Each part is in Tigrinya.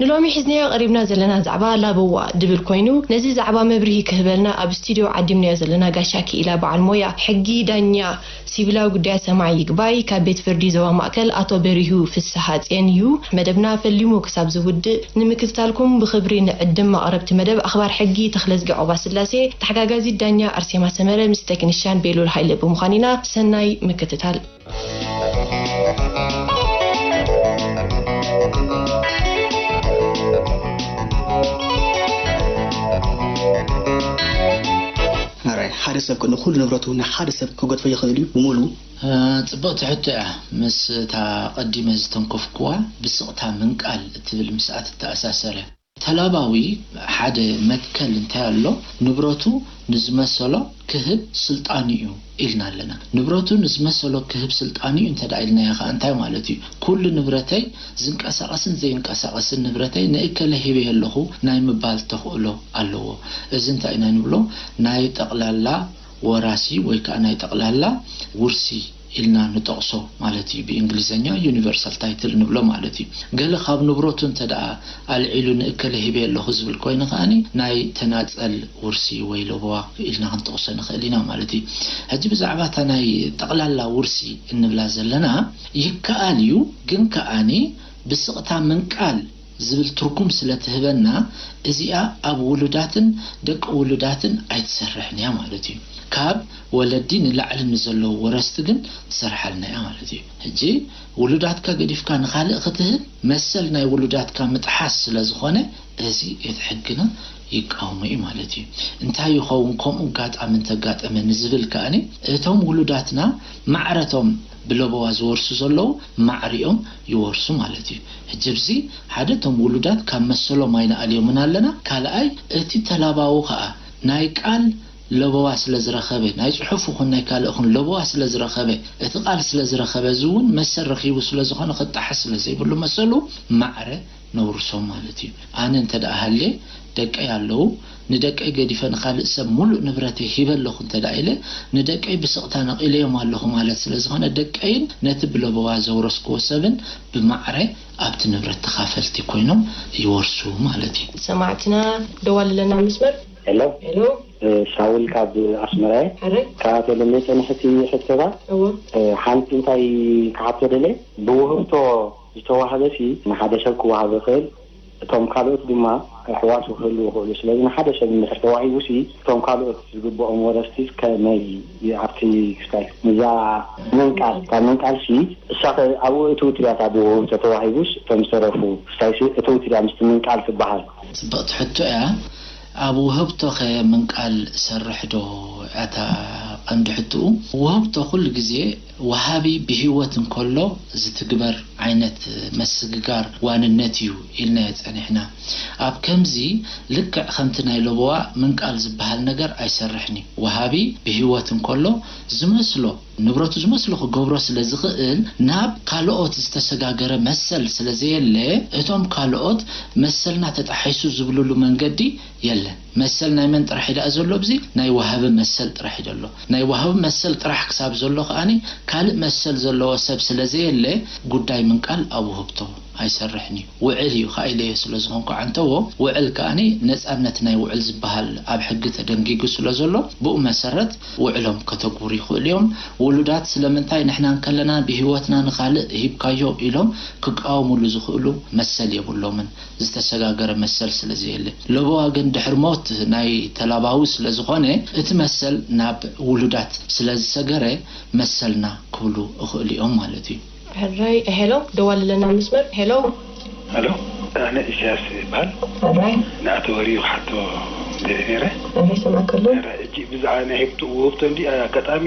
ንሎሚ ሒዝናዮ ቀሪብና ዘለና ዛዕባ ላበዋ ድብል ኮይኑ ነዚ ዛዕባ መብርሂ ክህበልና ኣብ ስቲድዮ ዓዲምናዮ ዘለና ጋሻ ኪኢላ በዓል ሞያ ሕጊ ዳኛ ሲቪላዊ ጉዳያት ሰማዒ ይግባይ ካብ ቤት ፍርዲ ዞባ ማእከል ኣቶ በሪሁ ፍስሃጼን እዩ መደብና ፈሊሙ ክሳብ ዝውድእ ንምክትታልኩም ብኽብሪ ንዕድም ኣቕረብቲ መደብ ኣኽባር ሕጊ ተኽለዝጊ ዖባስላሴ ተሓጋጋዚት ዳኛ ኣርሴማ ሰመረ ምስ ተክኒሻን ቤሉል ሃይለ ብምዃን ኢና ሰናይ ምክትታል። ኣራይ ሓደ ሰብ ከ ንኩሉ ንብረቱ ንሓደ ሰብ ክገድፎ ይክእል እዩ ብሙሉ? ጽብቕቲ ሕቶ እያ፣ ምስ እታ ኣቐዲመ ዝተንከፍኩዋ ብስቕታ ምንቃል እትብል ምስኣ ትተኣሳሰር እያ። ተላባዊ ሓደ መትከል እንታይ ኣሎ ንብረቱ ንዝመሰሎ ክህብ ስልጣኑ'ዩ ኢልና ኣለና። ንብረቱ ንዝመሰሎ ክህብ ስልጣኑ'ዩ እንተ ኢልናዮ ከኣ እንታይ ማለት'ዩ? ኩሉ ንብረተይ ዝንቀሳቐስን ዘይንቀሳቐስን ንብረተይ ንእከለ ሂበዮ ኣለኹ ናይ ምባል ተኽእሎ ኣለዎ። እዚ እንታይ ኢና ንብሎ ናይ ጠቕላላ ወራሲ ወይ ከኣ ናይ ጠቕላላ ውርሲ። ኢልና ንጠቕሶ ማለት እዩ፣ ብእንግሊዘኛ Universal Title ንብሎ ማለት እዩ። ገለ ካብ ንብረቱ እንተድኣ ኣልዒሉ ንእከለ ሂበዮ ኣለኹ ዝብል ኮይኑ ከኣ ናይ ተናጸል ውርሲ ወይ ለበዋ ኢልና ክንጠቕሶ ንኽእል ኢና ማለት እዩ። ሕጂ ብዛዕባ እታ ናይ ጠቕላላ ውርሲ እንብላ ዘለና ይከኣል እዩ ግን ከኣ ብስቕታ ምንቃል፣ ዝብል ትርጉም ስለ ትህበና እዚኣ ኣብ ውሉዳትን ደቂ ውሉዳትን ኣይትሰርሕን እያ ማለት እዩ። ካብ ወለዲ ንላዕሊ ንዘለዉ ወረስቲ ግን ትሰርሓልና እያ ማለት እዩ። ሕጂ ውሉዳትካ ገዲፍካ ንኻልእ ክትህብ መሰል ናይ ውሉዳትካ ምጥሓስ ስለ ዝኾነ እዚ እቲ ሕግና ይቃወሞ እዩ ማለት እዩ። እንታይ ይኸውን ከምኡ ኣጋጣሚ እንተጋጠመ ንዝብል ከኣ እቶም ውሉዳትና ማዕረ'ቶም ብለበዋ ዝወርሱ ዘለዉ ማዕሪኦም ይወርሱ ማለት እዩ ሕጂ ብዚ ሓደ እቶም ውሉዳት ካብ መሰሎም ኣይንኣልዮምን ኣለና ካልኣይ እቲ ተላባዊ ከኣ ናይ ቃል ለበዋ ስለ ዝረኸበ ናይ ጽሑፍ ይኹን ናይ ካልእ ይኹን ለበዋ ስለ ዝረኸበ እቲ ቃል ስለ ዝረኸበ እዚ እውን መሰል ረኺቡ ስለ ዝኾነ ክጣሓስ ስለ ዘይብሉ መሰሉ ማዕረ ነውርሶም ማለት እዩ ኣነ እንተ ሃልየ ደቀይ ኣለዉ ንደቀይ ገዲፈ ንካልእ ሰብ ሙሉእ ንብረተይ ሂበ ኣለኩ እንተ ኢለ ንደቀይ ብስቅታ ነቂለዮም ኣለኩ ማለት ስለ ዝኮነ ደቀይን ነቲ ብለበዋ ዘውረስክዎ ሰብን ብማዕረ ኣብቲ ንብረት ተካፈልቲ ኮይኖም ይወርሱ ማለት እዩ። ሰማዕትና ደዋልለና ኣብ መስመር። ሄሎ ሄሎ ሳውል ካብ ኣስመራ እየ ሕራይ። ካብኣ ተለምየ ጸኒሐ እቲ ሕቶታት እወ። ሓንቲ እንታይ ክሓቶ ደልየ ብውህብቶ። ዝተዋህበሲ ንሓደ ሰብ ክወሃብ ይኽእል እቶም ካልኦት ድማ ኣሕዋቱ ክህልዉ ይኽእሉ ስለዚ ንሓደ ሰብ እንድሕር ተዋሂቡሲ እቶም ካልኦት ዝግብኦም ወረስቲስ ከመይ ኣብቲ ክስታይ ንዛ ምንቃል እታ ምንቃልሲ እሳኸ ኣብኡ እትው ትድያ እታ ብውሁብ ተተዋሂቡስ እቶም ዝተረፉ ክስታይሲ እትው ትድያ ምስቲ ምንቃል ትበሃል። ጽብቅቲ ሕቶ እያ ኣብ ውህብቶኸ ምንቃል እሰርሕዶ እያ እታ ቀንዲ ሕትኡ ውህብቶ ኩሉ ግዜ። ወሃቢ ብህይወት እንከሎ ዝትግበር ዓይነት መስግጋር ዋንነት እዩ ኢልናዮ ጸኒሕና። ኣብ ከምዚ ልክዕ ከምቲ ናይ ለበዋ ምንቃል ዝበሃል ነገር ኣይሰርሕን እዩ። ወሃቢ ብህይወት እንከሎ ዝመስሎ ንብረቱ ዝመስሎ ክገብሮ ስለ ዝኽእል ናብ ካልኦት ዝተሰጋገረ መሰል ስለ ዘየለ እቶም ካልኦት መሰልና ተጣሒሱ ዝብልሉ መንገዲ የለን። መሰል ናይ መን ጥራሕ እዩ ደኣ ዘሎ ኣብዚ? ናይ ወሃቢ መሰል ጥራሕ እዩ ዘሎ። ናይ ወሃቢ መሰል ጥራሕ ክሳብ ዘሎ ከኣ ካልእ መሰል ዘለዎ ሰብ ስለ ዘየለ ጉዳይ ምንቃል ኣብ ውህብቶ ኣይሰርሕን እዩ። ውዕል እዩ ከኣ ኢለዮ ስለ ዝኾንኩ ዓንተቦ፣ ውዕል ከኣ ነጻነት ናይ ውዕል ዝበሃል ኣብ ሕጊ ተደንጊጉ ስለ ዘሎ ብኡ መሰረት ውዕሎም ከተግብሩ ይኽእሉ እዮም። ውሉዳት ስለምንታይ ንሕና እንከለና ብህይወትና ንኻልእ ሂብካዮ ኢሎም ክቃወምሉ ዝኽእሉ መሰል የብሎምን። ዝተሰጋገረ መሰል ስለዘየለ። ለበዋ ግን ድሕሪ ሞት ናይ ተላባዊ ስለዝኾነ እቲ መሰል ናብ ውሉዳት ስለዝሰገረ መሰልና ክብሉ እኽእሉ እዮም ማለት እዩ። ሕራይ ሄሎ ደዋሊ ኣለና መስመር ሄሎ። ሀሎ ኣነ ኢሰያስ ይብሃል ንኣቶ ወርዩ ክሓቶ ደልየ ነይረ። ሕራይ ሕጂ ብዛዕባ ናይ ህብቶ ውህብቶ እንድዩ ኣጋጣሚ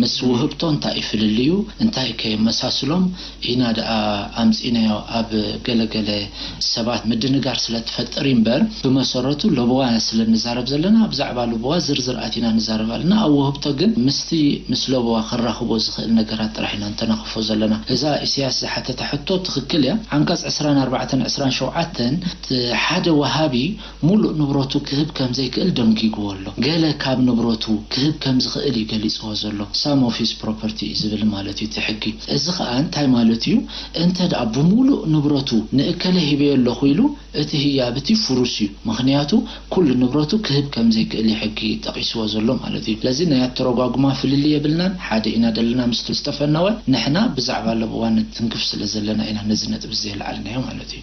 ምስ ውህብቶ እንታይ እዩ ፍልልዩ እንታይ ከ የመሳስሎም ኢና ደኣ ኣምጺእናዮ ኣብ ገለ ገለ ሰባት ምድንጋር ስለ ትፈጥር እዩ እምበር ብመሰረቱ ለበዋ ኢና ስለ ንዛረብ ዘለና ብዛዕባ ልበዋ ዝርዝር ኣቲና ንዛረብ ኣለና ኣብ ውህብቶ ግን ምስቲ ምስ ለበዋ ከራኽቦ ዝኽእል ነገራት ጥራሕ ኢና ንተናኽፎ ዘለና እዛ ኢሰያስ ዝሓተታ ሕቶ ትኽክል እያ ዓንቀጽ ዕስራን ኣርባዕተን ዕስራን ሸውዓተን ሓደ ወሃቢ ሙሉእ ንብረቱ ክህብ ከም ዘይክእል ደንጊጉዎ ኣሎ። ገለ ካብ ንብረቱ ክህብ ከም ዝኽእል እዩ ገሊጽዎ ዘሎ፣ some of his property እዩ ዝብል ማለት እዩ እቲ ሕጊ። እዚ ኸኣ እንታይ ማለት እዩ፣ እንተ ድኣ ብሙሉእ ንብረቱ ንእከለ ሂበዮ ኣለኹ ኢሉ እቲ ህያብ እቲ ፍሩስ እዩ፣ ምኽንያቱ ኩሉ ንብረቱ ክህብ ከም ዘይክእል እዩ ሕጊ ጠቒስዎ ዘሎ ማለት እዩ። ስለዚ ናይ ኣተረጓጉማ ፍልልይ የብልናን፣ ሓደ ኢና ዘለና ምስቲ ዝተፈነወ፣ ንሕና ብዛዕባ ለበዋን ንትንክፍ ስለ ዘለና ኢና ነዚ ነጥቢ እዚ ዘየልዓልናዮ ማለት እዩ።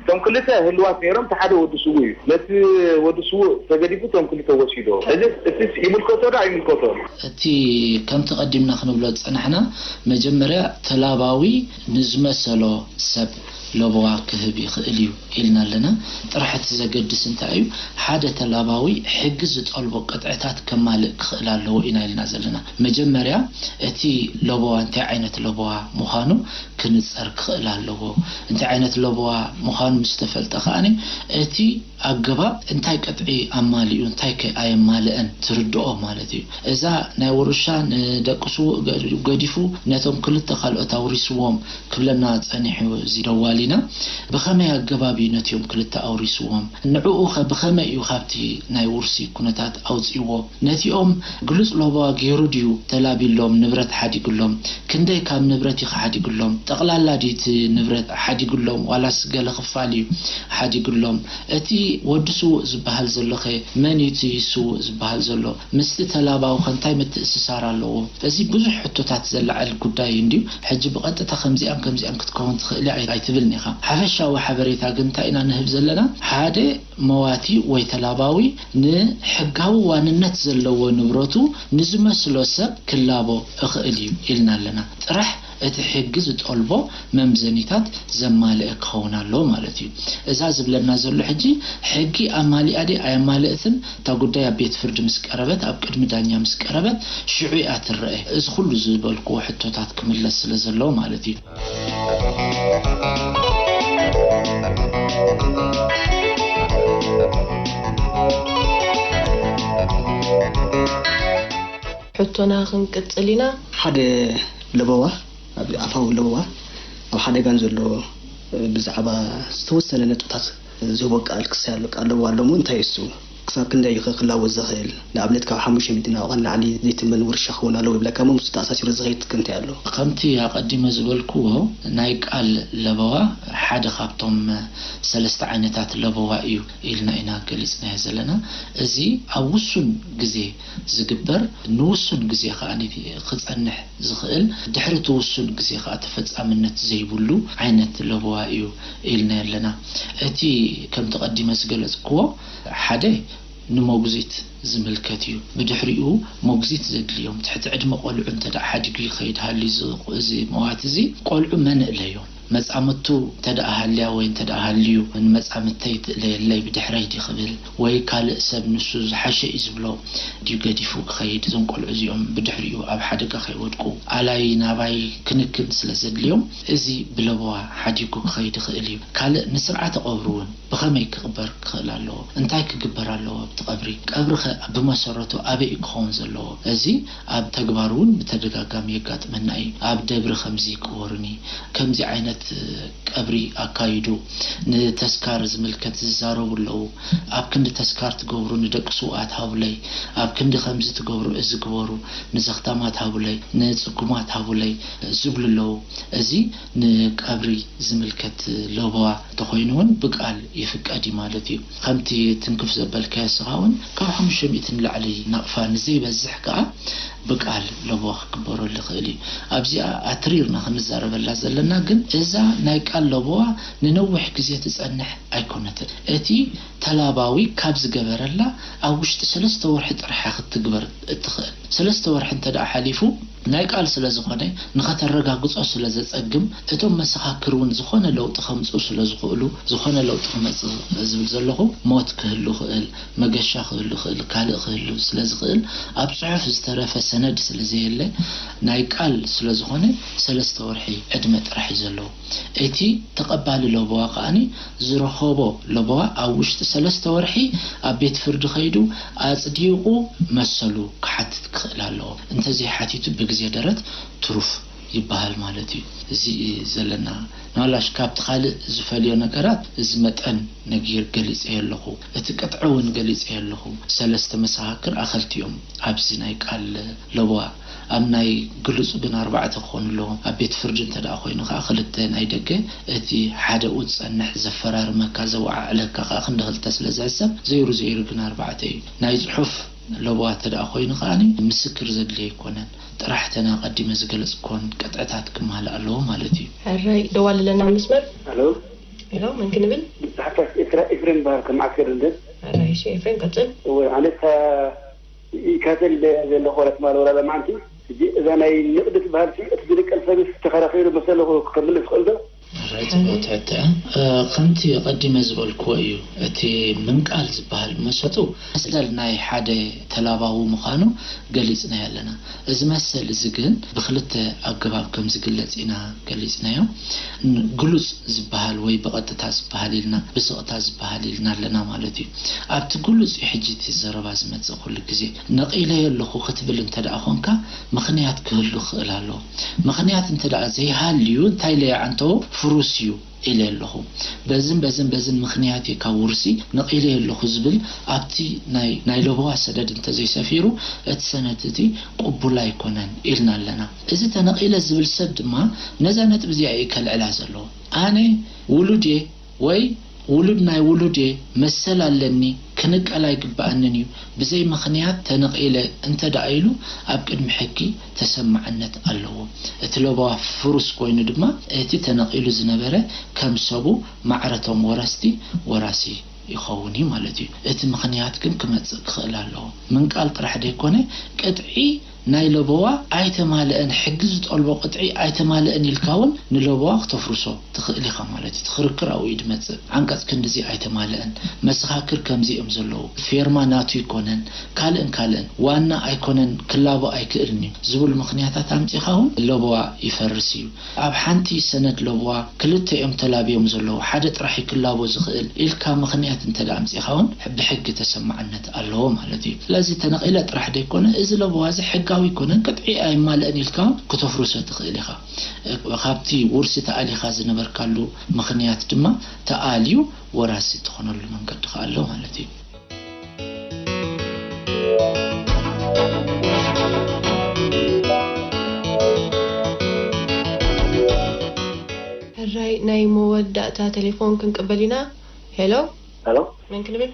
እቶም ክልተ ህልዋት ነይሮም እቲ ሓደ ወዲ ስውእ እዩ ነቲ ወዲ ስውእ ተገዲፉ እቶም ክልተ ወሲዶ ሕዚ እቲስ ይምልከቶ ዶ ኣይምልከቶ። እቲ ከምቲ ቀዲምና ክንብሎ ዝጸናሕና መጀመርያ ተላባዊ ንዝመሰሎ ሰብ ለበዋ ክህብ ይኽእል እዩ ኢልና ኣለና ጥራሕ እቲ ዘገድስ እንታይ እዩ ሓደ ተላባዊ ሕጊ ዝጠልቦ ቅጥዕታት ከማልእ ክኽእል ኣለዎ ኢና ኢልና ዘለና መጀመርያ እቲ ለበዋ እንታይ ዓይነት ለበዋ ምዃኑ ክንጸር ክኽእል ኣለዎ። እንታይ ዓይነት ለበዋ ምዃኑ ምስ ተፈልጠ ከኣ እቲ ኣገባብ እንታይ ቅጥዒ ኣማሊኡ እንታይከ ኣየማልእን ትርድኦ ማለት እዩ። እዛ ናይ ውርሻ ንደቂ ስዉእ ገዲፉ ነቶም ክልተ ካልኦት ኣውሪስዎም ክብለና ጸኒሑ እዚ ደዋሊና። ብኸመይ ኣገባብ እዩ ነቲኦም ክልተ ኣውሪስዎም? ንዕኡኸ ብኸመይ እዩ ካብቲ ናይ ውርሲ ኩነታት ኣውጺእዎ? ነቲኦም ግሉጽ ሎበዋ ገይሩ ድዩ ተላብዩሎም ንብረት ሓዲጉሎም? ክንደይ ካብ ንብረት ኢኻ ሓዲጉሎም? ጠቕላላ ድዩ እቲ ንብረት ሓዲጉሎም ዋላስ ገለ ክፋል እዩ ሓዲጉሎም? እቲ ወዲ ስዉእ ዝበሃል ዘሎኸ መን እዩ እቲ ስዉእ ዝበሃል ዘሎ? ምስቲ ተላባዊኸ እንታይ ምትእስሳር ኣለዎ? እዚ ብዙሕ ሕቶታት ዘለዓዕል ጉዳይ እዩ እንድዩ። ሕጂ ብቐጥታ ከምዚኣን ከምዚኣን ክትከውን ትኽእል እያ ኣይትብልን ኢኻ። ሓፈሻዊ ሓበሬታ ግን እንታይ ኢና ንህብ ዘለና? ሓደ መዋቲ ወይ ተላባዊ ንሕጋዊ ዋንነት ዘለዎ ንብረቱ ንዝመስሎ ሰብ ክላቦ እኽእል እዩ ኢልና ኣለና ጥራሕ። እቲ ሕጊ ዝጠልቦ መምዘኒታት ዘማልእ ክኸውን ኣለዎ ማለት እዩ። እዛ ዝብለና ዘሎ ሕጂ ሕጊ ኣማሊኣ ድያ ኣየማልእትን እታ ጉዳይ ኣብ ቤት ፍርዲ ምስ ቀረበት ኣብ ቅድሚ ዳኛ ምስ ቀረበት ሽዑ እያ ትረኣ እዚ ኩሉ ዝበልክዎ ሕቶታት ክምለስ ስለ ዘለዎ ማለት እዩ። ሕቶና ክንቅጽል ኢና። ሓደ ለበዋ ኣብ ኣፋዊ ለበዋ ኣብ ሓደጋ ንዘሎ ብዛዕባ ዝተወሰነ ነጥብታት ዝህቦ ቃል ክሳይ ኣሎ። ቃል ለበዋ ኣሎ'ሞ እንታይ እሱ? ክሳብ ክንደይ እዩ ከ ክላወጥ ዘኽእል? ንኣብነት ካብ ሓሙሽተ ሚእቲ ናብቓ ንላዕሊ ዘይትመን ውርሻ ክኸውን ኣለዎ ይብለካ'ሞ ምስኡ ተኣሳሲሩ ዝኸይድ ከ እንታይ ኣሎ? ከምቲ ኣቐዲመ ዝበልክዎ ናይ ቃል ለበዋ ሓደ ካብቶም ሰለስተ ዓይነታት ለበዋ እዩ ኢልና ኢና ገሊጽናዮ ዘለና። እዚ ኣብ ውሱን ግዜ ዝግበር ንውሱን ግዜ ከኣ ክጸንሕ ዝኽእል ድሕሪ እቲ ውሱን ግዜ ከኣ ተፈጻምነት ዘይብሉ ዓይነት ለበዋ እዩ ኢልናዮ ኣለና። እቲ ከምቲ ቀዲመ ዝገለጽክዎ ሓደ ንሞግዚት ዝምልከት እዩ። ብድሕሪኡ ሞግዚት ዘድልዮም ትሕቲ ዕድመ ቆልዑ እንተደኣ ሓዲጉ ይኸይድ ሃልዩ እዚ መዋቲ እዚ ቆልዑ መን እለዮም? መጻምድቱ እንተድኣ ሃልያ ወይ እንተድኣ ሃልዩ ንመጻምድተይ ትእለየለይ ብድሕረይ ድዩ ክብል ወይ ካልእ ሰብ ንሱ ዝሓሸ እዩ ዝብሎ ድዩ ገዲፉ ክኸይድ እዞም ቆልዑ እዚኦም ብድሕሪኡ ኣብ ሓደጋ ከይወድቁ ኣላይ ናባይ ክንክን ስለ ዘድልዮም እዚ ብለበዋ ሓዲጉ ክኸይድ ይኽእል እዩ ካልእ ንስርዓተ ቀብሩ እውን ብኸመይ ክቕበር ክኽእል ኣለዎ እንታይ ክግበር ኣለዎ ኣብቲ ቀብሪ ቀብሪኸ ብመሰረቱ ኣበይ እዩ ክኸውን ዘለዎ እዚ ኣብ ተግባር እውን ብተደጋጋሚ የጋጥመና እዩ። ኣብ ደብሪ ከምዚ ቅበሩኒ፣ ከምዚ ዓይነት ቀብሪ ኣካይዱ፣ ንተስካር ዝምልከት ዝዛረቡ ኣለዉ። ኣብ ክንዲ ተስካር ትገብሩ ንደቂ ስውኣት ሃቡለይ፣ ኣብ ክንዲ ከምዚ ትገብሩ እዚ ግበሩ፣ ንዘኽታማት ሃቡለይ፣ ንጽጉማት ሃቡለይ ዝብሉ ኣለዉ። እዚ ንቀብሪ ዝምልከት ለበዋ እንተኾይኑ እውን ብቃል ይፍቀድ እዩ ማለት እዩ። ከምቲ ትንክፍ ዘበልካዮ እስኻ ውን ካብ ሓሙሽተ ሚእቲ ንላዕሊ ናቕፋ ንዘይበዝሕ ከኣ ብቃል ለበዋ ክግበረሉ ይኽእል እዩ። ኣብዚኣ ኣትሪርና ክንዛረበላ ዘለና ግን እዛ ናይ ቃል ለበዋ ንነዊሕ ግዜ ትጸንሕ ኣይኮነትን። እቲ ተላባዊ ካብ ዝገበረላ ኣብ ውሽጢ ሰለስተ ወርሒ ጥራሕ እያ ክትትግበር እትኽእል። ሰለስተ ወርሒ እንተደኣ ሓሊፉ፣ ናይ ቃል ስለ ዝኾነ ንኸተረጋግጾ ስለ ዘጸግም፣ እቶም መሰኻክር ውን ዝኾነ ለውጢ ከምጽኡ ስለ ዝኽእሉ፣ ዝኾነ ለውጢ ክመጽእ ዝብል ዘለኹ ሞት ክህሉ ይኽእል፣ መገሻ ክህሉ ይኽእል፣ ካልእ ክህሉ ስለ ዝኽእል፣ ኣብ ጽሑፍ ዝተረፈ ሰነድ ስለ ዘየለ፣ ናይ ቃል ስለ ዝኾነ ሰለስተ ወርሒ ዕድመ ጥራሕ እዩ ዘለዎ። እቲ ተቐባሊ ለበዋ ከኣ ዝረኸቦ ለበዋ ኣብ ውሽጢ ሰለስተ ወርሒ ኣብ ቤት ፍርዲ ከይዱ ኣጽዲቑ መሰሉ ክሓትት ክኽእል ኣለዎ። እንተዘይሓቲቱ ብግዜ ደረት ትሩፍ ይበሃል ማለት እዩ። እዚ ዘለና ንዋላሽ ካብቲ ካልእ ዝፈልዮ ነገራት እዚ መጠን ነጊር ገሊጸዮ ኣለኹ። እቲ ቅጥዒ እውን ገሊጸዮ ኣለኹ። ሰለስተ መሰኻክር ኣኸልቲ እዮም ኣብዚ ናይ ቃል ለበዋ። ኣብ ናይ ግሉጽ ግን ኣርባዕተ ክኾኑ ኣለዎም። ኣብ ቤት ፍርዲ እንተድኣ ኮይኑ ከኣ ክልተ ናይ ደገ እቲ ሓደኡ ዝጸንሕ ዘፈራርመካ ዘወዓዕለካ ከኣ ክንዲ ክልተ ስለ ዝሕሰብ ዘይሩ ዘይሩ ግን ኣርባዕተ እዩ። ናይ ጽሑፍ። ለበዋ ተደኣ ኮይኑ ከኣ ምስክር ዘድሊ ኣይኮነን ጥራሕ እተን ኣቀዲመ ዝገለጽክወን ቅጥዕታት ክማልእ ኣለዎ ማለት እዩ። ሕራይ ደዋልለና ኣብ መስመር። ሃሎ ሄሎ መን ክንብል? ብጻሕፍታት ኤርትራ ኤፍሬም ይበሃል ካብ መዓስከር ለንደን። ሕራይ እሺ ኤፍሬም ቀጽል። እወ ኣነ እታ ይካተል ዘሎ ኮላ ትበሃል ወላ ሎማዓንቲ ሕጂ እዛ ናይ ንቕዲ ትበሃልሲ እቲ ዝንቀል ሰብስ ተኸራኺሩ መሰሉ ክምልስ ይኽእልዶ? ማራ ጽቡቅ ትሕተ እያ ከምቲ ቀዲመ ዝበልክዎ እዩ እቲ ምንቃል ዝባሃል መሰጡ መሰል ናይ ሓደ ተላባዊ ምኻኑ ገሊጽናዮ ኣለና እዚ መሰል እዚ ግን ብክልተ ኣገባብ ከም ዝግለጽ ኢና ገሊጽናዮ ን ግሉጽ ዝባሃል ወይ ብቀጥታ ዝባሃል ኢልና ብስቅታ ዝባሃል ኢልና ኣለና ማለት እዩ ኣብቲ ግሉጽ እዩ ሕጂ እቲ ዘረባ ዝመጽእ ኩሉ ግዜ ነቂለዮ ኣለኩ ክትብል እንተ ኮንካ ምኽንያት ክህሉ ክኽእል ኣለዎ ምኽንያት እንተድኣ ዘይሃልዩ እንታይ ኢለ ይዓንተዎ ፍሩስ እዩ ኢለ ኣለኹ። በዝን በዝን በዝን ምኽንያት እዩ ካብ ውርሲ ነቒለዮ ኣለኹ ዝብል ኣብቲ ናይ ናይ ለበዋ ሰደድ እንተዘይሰፊሩ እቲ ሰነድ እቲ ቅቡል ኣይኮነን ኢልና ኣለና። እዚ ተነቒለ ዝብል ሰብ ድማ ነዛ ነጥቢ እዚኣ እዩ ከልዕላ ዘለዎ። ኣነ ውሉድ እየ። ወይ ውሉድ ናይ ውሉድ እየ መሰል ኣለኒ ክንቀል ኣይግበኣንን እዩ ብዘይ ምኽንያት ተነቒለ እንተ ደኣ ኢሉ ኣብ ቅድሚ ሕጊ ተሰማዕነት ኣለዎ። እቲ ለበዋ ፍሩስ ኮይኑ ድማ እቲ ተነቒሉ ዝነበረ ከም ሰቡ ማዕረ እቶም ወረስቲ ወራሲ ይኸውን እዩ ማለት እዩ። እቲ ምኽንያት ግን ክመጽእ ክኽእል ኣለዎ። ምንቃል ጥራሕ ደይኮነ ቅጥዒ ናይ ለበዋ ኣይተማለኣን ሕጊ ዝጠልቦ ቅጥዒ ኣይተማለኣን ኢልካ ውን ንለበዋ ክተፍርሶ ትኽእል ኢኻ ማለት እዩ እቲ ክርክር ኣብኡ እዩ ድመጽእ ዓንቀጽ ክንድዚ ኣይተማለኣን መሰኻክር ከምዚ እዮም ዘለዉ ፌርማ ናቱ ኣይኮነን ካልእን ካልእን ዋና ኣይኮነን ክላቦ ኣይክእልን እዩ ዝብሉ ምኽንያታት ኣምጺኻ ውን ለበዋ ይፈርስ እዩ ኣብ ሓንቲ ሰነድ ለበዋ ክልተ እዮም ተላብዮም ዘለዉ፣ ሓደ ጥራሕ እዩ ክላቦ ዝኽእል ኢልካ ምኽንያት እንተድኣ ኣምጺእኻ እውን ብሕጊ ተሰማዕነት ኣለዎ ማለት እዩ። ስለዚ ተነቒለ ጥራሕ ዘይኮነ እዚ ለበዋ እዚ ሕጋዊ ኣይኮነን፣ ቅጥዒ ኣየማልእን ኢልካ እውን ክተፍርሶ ትኽእል ኢኻ። ካብቲ ውርሲ ተኣሊኻ ዝነበርካሉ ምኽንያት ድማ ተኣልዩ ወራሲ እትኾነሉ መንገዲ ከኣ ኣሎ ማለት እዩ። ሕራይ ናይ መወዳእታ ተሌፎን ክንቅበል ኢና ሄሎ። ሄሎ መን ክንብል?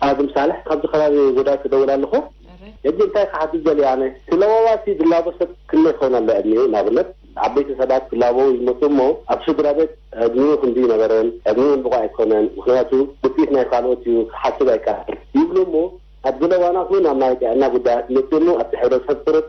ኣድም ሳልሕ ካብዚ ከባቢ ጎዳት ክደውል ኣለኹ። ሕራይ። ሕጂ እንታይ ክሓትት ደልየ ኣነ? እቲ ለበዋ እቲ ዝላቦ ሰብ ክንደይ ክኸውን ኣለዎ ዕድሚኡ ንኣብነት? ዓበይቲ ሰባት ክላበዉ ይመጹ እሞ ኣብ ስድራቤት ዕድሚኡ ክንዲ ይነበረን ዕድሚኡ ውን ብቑዕ ኣይኮነን ምኽንያቱ ውጽኢት ናይ ካልኦት እዩ ክሓስብ ኣይከኣልን ይብሉ እሞ ኣብ ገለ እዋናት ውን ኣብ ናይ ጥዕና ጉዳያት ይመጽእ እሞ ኣብቲ ሕብረተሰብ ቁሩብ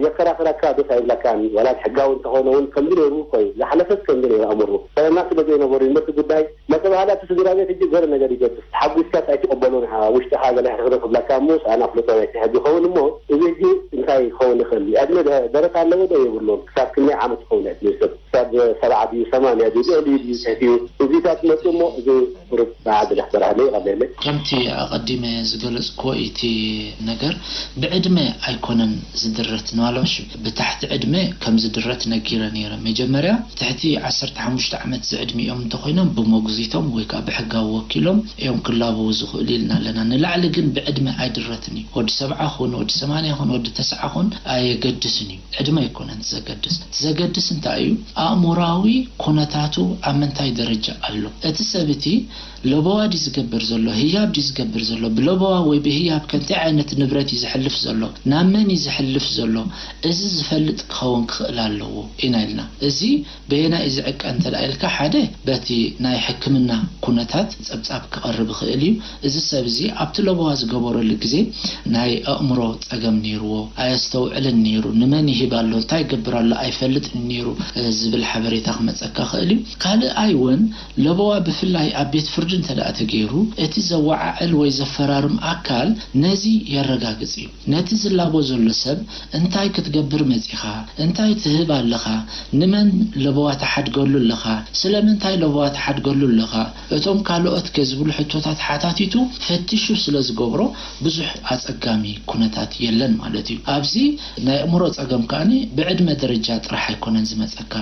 የከራኽረካ ደስ ኣይብለካን ዋላ ሕጋዊ እንተኾነ ውን ከምዚ ኔሩ እኮዩ ዝሓለፈስ ከምዚ ኔሩ ኣምሩ ጥዕና ስለዘይነበሩ ይሞ እቲ ጉዳይ መጸ በሃላ እቲ ስድራ ቤት ህጂ ገለ ነገር ይገብር ተሓጉስካስ ኣይትቅበሎን እኻ ውሽጥኻ ገለ ሕርኽርኽ ይብላካ እሞ ሳኣን ኣፍልጦ ናይ ስሕግ ይኸውን እሞ እዚ ህጂ እንታይ ክኸውን ይኽእል ዕድመ ደረት ኣለዎ ዶ የብሉን ክሳብ ክንደይ ዓመት ይኸውን ዕድመ ሰብ ክሳብ ሰብዓ ድዩ ሰማንያ ድዩ ልዕሊኡ ድዩ ትሕቲኡ እዚታት መጹ እሞ እዚ ቁሩብ ባዓ ገለ ክበርሃለይ ይቀለለይ። ከምቲ ኣቀዲመ ዝገለጽኩዎ ኢቲ ነገር ብዕድመ ኣይኮነን ዝድረት ንዋልባሽ ብታሕቲ ዕድመ ከም ዝድረት ነጊረ ነይረ። መጀመርያ ትሕቲ ዓሰርተ ሓሙሽተ ዓመት ዝዕድሚኦም እንተኾይኖም ብሞግዚቶም ወይ ከኣ ብሕጋዊ ወኪሎም እዮም ክላበዉ ዝኽእሉ ኢልና ኣለና። ንላዕሊ ግን ብዕድመ ኣይድረትን እዩ። ወዲ ሰብዓ ኩን፣ ወዲ ሰማንያ ኩን፣ ወዲ ተሰዓ ኩን ኣየገድስን እዩ። ዕድመ ኣይኮነን እቲ ዘገድስ። እቲ ዘገድስ እንታይ እዩ ኣእሙራዊ ኩነታቱ ኣብ ምንታይ ደረጃ ኣሎ። እቲ ሰብ እቲ ለበዋ ድዩ ዝገብር ዘሎ ህያብ ድዩ ዝገብር ዘሎ ብለበዋ ወይ ብህያብ ከንታይ ዓይነት ንብረት እዩ ዘሕልፍ ዘሎ ናብ መን እዩ ዘሕልፍ ዘሎ እዚ ዝፈልጥ ክኸውን ክኽእል ኣለዎ ኢና ኢልና እዚ በየናይ እዩ ዝዕቀ እንተ ኢልካ ሓደ በቲ ናይ ሕክምና ኩነታት ጸብጻብ ክቐርብ ይኽእል እዩ እዚ ሰብ እዚ ኣብቲ ለበዋ ዝገበረሉ ግዜ ናይ ኣእምሮ ጸገም ኔርዎ ኣየስተውዕልን ኔሩ ንመን ይህብ ኣሎ እንታይ ይገብር ኣሎ ኣይፈልጥን እዩ ኔሩ ዝብል ሓበሬታ ክመጸካ ይኽእል እዩ ካልኣይ ውን ለበዋ ብፍላይ ኣብ ቤት ፍርዲ እንተደኣ ተገይሩ፣ እቲ ዘወዓዕል ወይ ዘፈራርም ኣካል ነዚ የረጋግጽ እዩ። ነቲ ዝላቦ ዘሎ ሰብ እንታይ ክትገብር መጺኻ? እንታይ ትህብ ኣለኻ? ንመን ለበዋ ትሓድገሉ ኣለኻ? ስለምንታይ ለበዋ ትሓድገሉ ኣለኻ? እቶም ካልኦትከ? ዝብሉ ሕቶታት ሓታቲቱ ፈቲሹ ስለ ዝገብሮ ብዙሕ ኣጸጋሚ ኩነታት የለን ማለት እዩ። ኣብዚ። ናይ ኣእምሮ ጸገም ከኣ ብዕድመ ደረጃ ጥራሕ ኣይኮነን ዝመጸካ።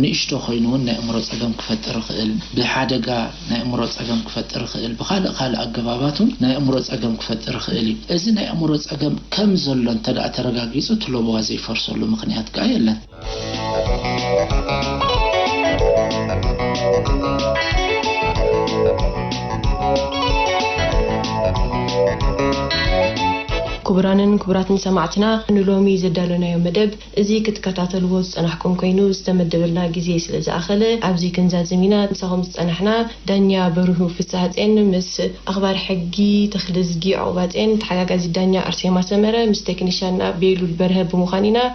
ንእሽቶ ኮይኑ ውን ናይ ኣእምሮ ጸገም ክፈጥር ይኽእል። ብሓደጋ ናይ ኣእምሮ ጸገም ክፈጥር ይኽእል። ብኻልእ ካልእ ኣገባባት ውን ናይ ኣእምሮ ጸገም ክፈጥር ይኽእል እዩ። እዚ ናይ ኣእምሮ ጸገም ከም ዘሎ እንተደኣ ተረጋጊጹ እቲ ለበዋ ዘይፈርሰሉ ምኽንያት ከኣ የለን። ክቡራንን ክቡራትን ሰማዕትና ንሎሚ ዘዳሎናዮ መደብ እዚ ክትከታተልዎ ዝጸናሕኩም ኮይኑ ዝተመደበልና ግዜ ስለ ዝኣኸለ ኣብዚ ክንዛዝም ኢና ምሳኹም ዝጸናሕና ዳኛ በርሁ ፍስሃጼን ምስ ኣኽባር ሕጊ ተኽልዝጊ ዑቕባጼን ተሓጋጋዚት ዳኛ ኣርሴማ ሰመረ ምስ ቴክኒሻንና ቤሉል በርሀ ብምዃን ኢና